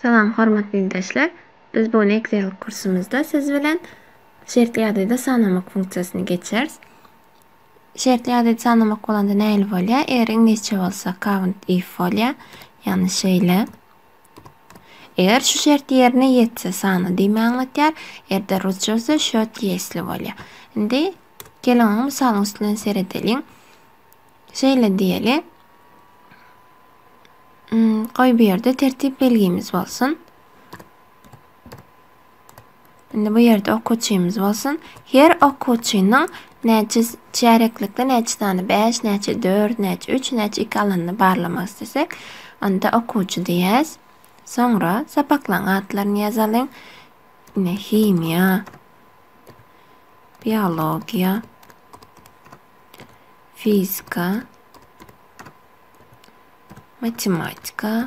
Salam hormatly ildeşler! Biz bu gün Excel kursumyzda siz bilen şertli ýagdaýda sanamak funksiýasyny geçeris. Şertli ýagdaýda sanamak bolanda nähili bolýar? Eger iňlisçe bolsa count if bolýar. Ýagny şeýle. Eger şu şert ýerine ýetse sana diýme aňlatýar. Eger-de rusça bolsa şert ýesli bolýar. Indi geliň oňa mysalyň üstünden seredeliň. Şeýle diýeli. Goý hmm, bu ýerde tertip belgimiz bolsun. Indi bu ýerde okuwçymyz bolsun. Her okuwçynyň näçe çäreklikde näçe sany 5, näçe 4, näçe 3, näçe 2 alanyny barlamak istesek, onda okuwçy diýýäs. Soňra sapaklaryň atlaryny ýazalyň. Ine himiýa, biologiýa, fizika, matematika,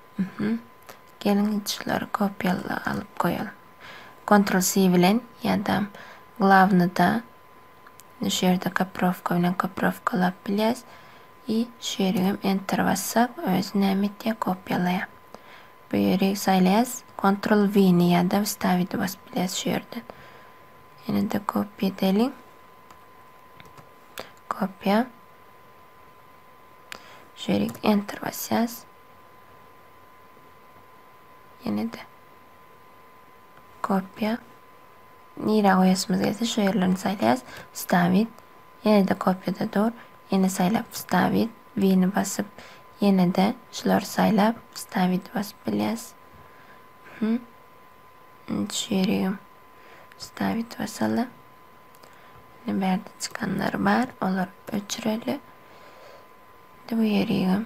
Mhm. Geliň şulary kopýala alyp goýalyň. Kontrol C bilen ýa-da glawnyda şu ýerde kopirowka bilen kopirowkalap bilýäs. I şu ýerik hem enter bassak, özi näme etýär? Kopýalaýar. Bu ýeri saýlaýas. Kontrol V-ni ýa-da wstavidi basyp bilýäs şu ýerden. Ýene-de kopýa edeliň. Kopýa. Şu ýerik enter basýas. Ýene-de kopýa. Nirä goýasymyz gelse şu ýerlerini saýlaýas. Wstawit. Ýene-de kopýada dur. Ýene saýlap wstawit. Wini basyp, ýene-de şulary saýlap wstawit basyp bilýäs. Hü. Indi şu ýeri hem wstawit basaly. Indi bärde çykanlar bar. Olary öçüreli. Indi bu ýeri hem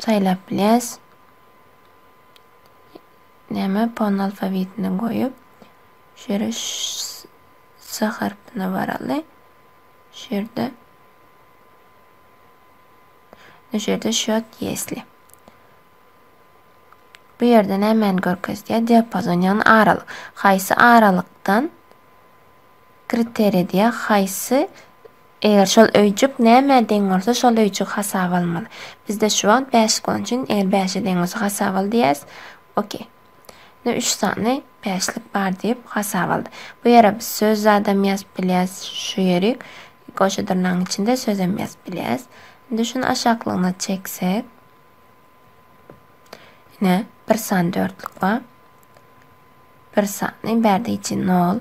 Saýlap bilýäs. Näme pon alfawitini goýup şu ýere s harpyna baraly. Şu ýerde şu ýerde şot ýesli. Bu ýerde nämäni görkezýär? Diapazon ýagny aralyk. Haýsy aralykdan? Kriteriýa haýsy? Eger şol öýjük nämä deň bolsa şol öýjügi hasaba almaly. Bizde şu wagt bäşlik bolan üçin eger bäşe deň bolsa hasaba al diýýäs. Ok. Indi üç sany bäşlik bar diýip hasaba aldy. Bu ýere biz söz zadam ýazyp bilýäs. Şu ýerik goşa dyrnagyň içinde sözem ýazyp bilýäs. Indi şuny aşaklygyna çeksek. Ine bir sany dörtlük bar. Bir sany bärdeýji nol,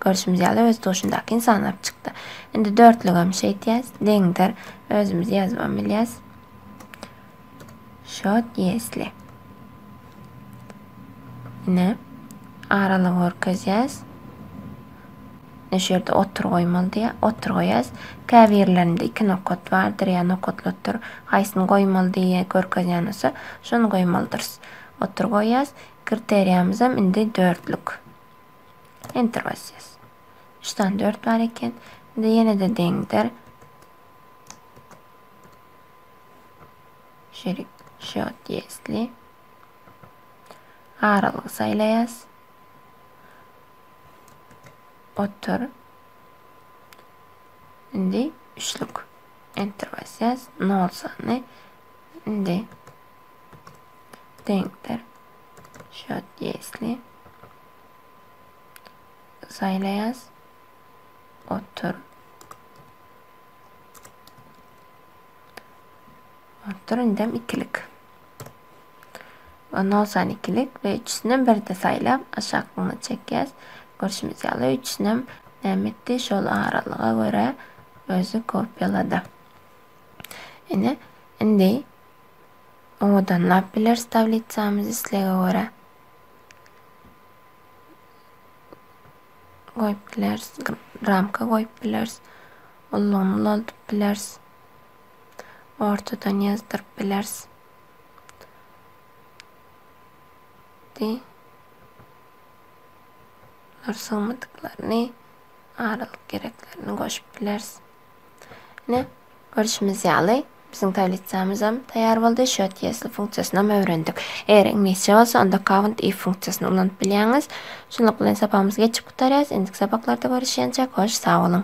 görşümiz ýaly, öz duşundaky insanlar çykdy. Indi dörtlügem şeýtýäs, deňdir. Özümiz ýazybam bilýäs. Şot ýesli. Ine, aralygy görkezýäs. Ne şu ýerde otur goýmaly diýä, otur goýýas. Käbirlerinde iki nokat bardyr ýa nokatlatdyr. Haýsyny goýmaly diýe görkezýän bolsa, şony goýmalydyrys. Otur goýýas. Kriteriýamyzam indi dörtlük. Enter basýas. Üç sany dört bar eken. Indi ýene-de deňdir. Şerik şot ýesli. Aralygy saýlaýas. Otur. Indi üçlük. Enter basýas. Nol sany. Indi deňdir. Şot ýesli. Saýlaýas. Otur. Otur indem ikilik. Ondan olsan ikilik ve üçüsünden bir de saýlap aşaklygyna çekýäs. Görşümiz ýaly üçüsinem näme etdi? Şol aralyga görä özi kopýalady. Ine, indi Owadanlap bileris tablitsamyzy islege görä. Goýup bileris. Ramka goýup bileris. Ullugyny ulaldyp bileris. Ortadan ýazdyryp bileris. Di. Nur sygmadyklaryny, aralyk gereklerini goşup bileris. Ine, görşümiz ýaly, biziň tablitsamyzam taýýar boldy. Şu otýesli funksiýasynam öwrendik. Eger iňlisçe bolsa, onda count if funksiýasyny ulanyp bilýäňiz. Şunluk bilen sapagymyzy geçip gutarýarys. Indiki sapaklarda görüşýänçäk, hoş sag boluň!